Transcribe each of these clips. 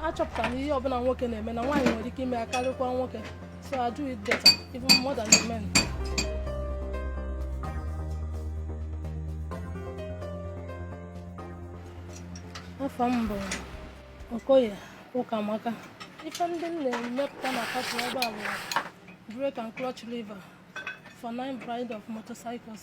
achọpụtara na ihe ọbụla nwoke na-eme na nwaanyị nwere ike ime ya karịkwa nwoke so I do it better even more than the men. afa m bụ Okoye Ụkamaka ife ndị m na-emepụta na factory ebe a bụ brake and clutch lever for nine brand of motorcycles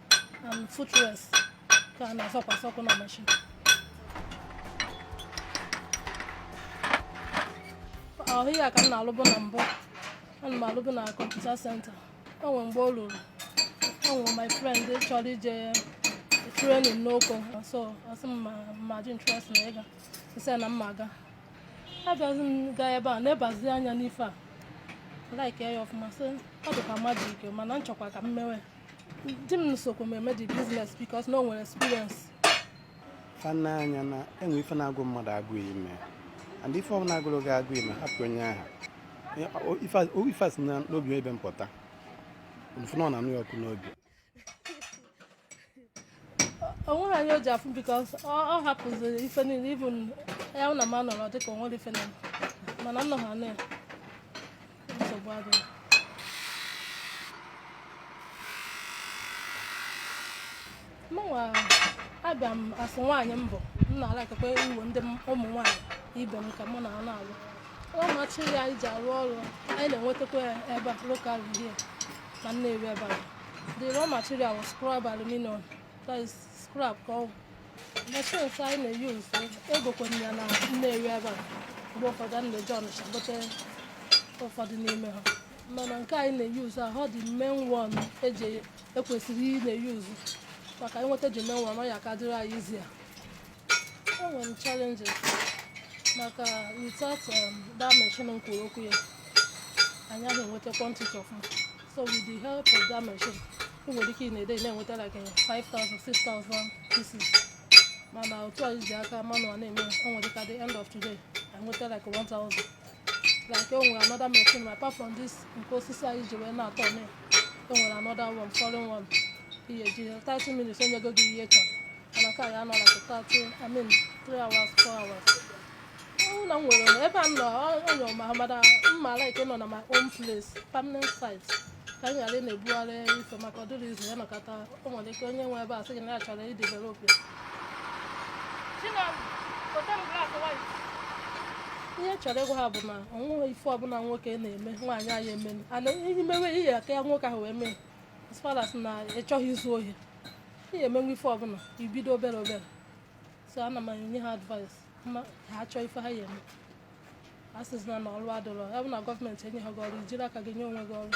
and footrest ka a na-azọkwasị ụkwụ na machine ahụ ya ka m na-alụbụ na mbụ ana m alụbụ na computer center o nwere mgbe o ruru o nwere my friend chọrọ ije training n'Oko so ọ sị m ma m ji interest na ịga m sị na m ma-aga abịazi m gaa ebe a na-ebazi anya n'ife a like ya ọfụma sị ọ dị ka magic mana m chọkwa ka m mewe di m sokwa m eme the business because na o nwere experience fana anya na enwe ife na-agụ mmadụ agụụ ime and ife ọ na-agụrụ gị agụụ ime hapụ onye aha ife si na n'obi ebe m pụta m fụ na ọ na-anụ ya ọkụ n'obi o nweghị anya o ji afụ because ọ hapụziri ife niile even ya na m anọrọ dịka o nwere ife na mana m nọghị na ya nsogbu adịghị mụnwa abịa m as nwaanyị m bụ m na-alikekwa iwe ndị ụmụ nwaanyị ibe m ka mụ na ha na-alụ raw material anyị ji arụ ọrụ anyị na-enwetakwa ya ebe a locally na Nnewi ebe a The raw material was scrap aluminum. That is scrap ka ọ bụ. Machines anyị na-use egokwere ya na Nnewi ebe a mgbe ụfọdụ a na-eje Ọnịcha gote ụfọdụ n'ime ha mana nke anyị na-use ahụ the main one anyị kwesịrị ị na-use maka ịnweta the main one ọ ya-aka dịrị anyị easier e nwere challenges maka without um, that machine m kwuru okwu ya anyị ahụ enweta quantity ọfụma so with the help of that machine ị nwere ike in a day na-enweta like 5000 6000 pieces mana otu anyị ji aka manual na-eme o nwere ike at the end of the day enweta like 1000 like o nwere another machine ma apart from this nke osisi anyị ji wee na-atọ na o nwere another one foreign one within 30 minutes o nyego gị ihe ị chọrọ mana nke a ya-anọ like 30 I mean 3 hours 4 hours ụlọ m nwere onwe ebe a m nọ onye ọma mara mma like nọ na my own place permanent site ka m ghara ị na-ebugharị ife maka ọ dịrọ easy a nọkata o nwere ike onye nwe ebe a sị gị na ya chọrọ idevelop ya ihe m chọrọ ịgwa ha bụ na o nweghị ife ọbụla nwoke na-eme nwaanyị ayaghị eme ana ihe mewe ihe aka ya nwoke ahụ wee mee as far as na ị chọghị izu ohi ị ya-emenwu ife ọbụla i bido obere obere so ana m enye ha advice ma ha achọ ife ha ya-eme asịzina na ọrụ adịrọ ya bụ na gọọmenti enyehọ gị ọrụ i jiri aka gị nye onwe gị ọrụ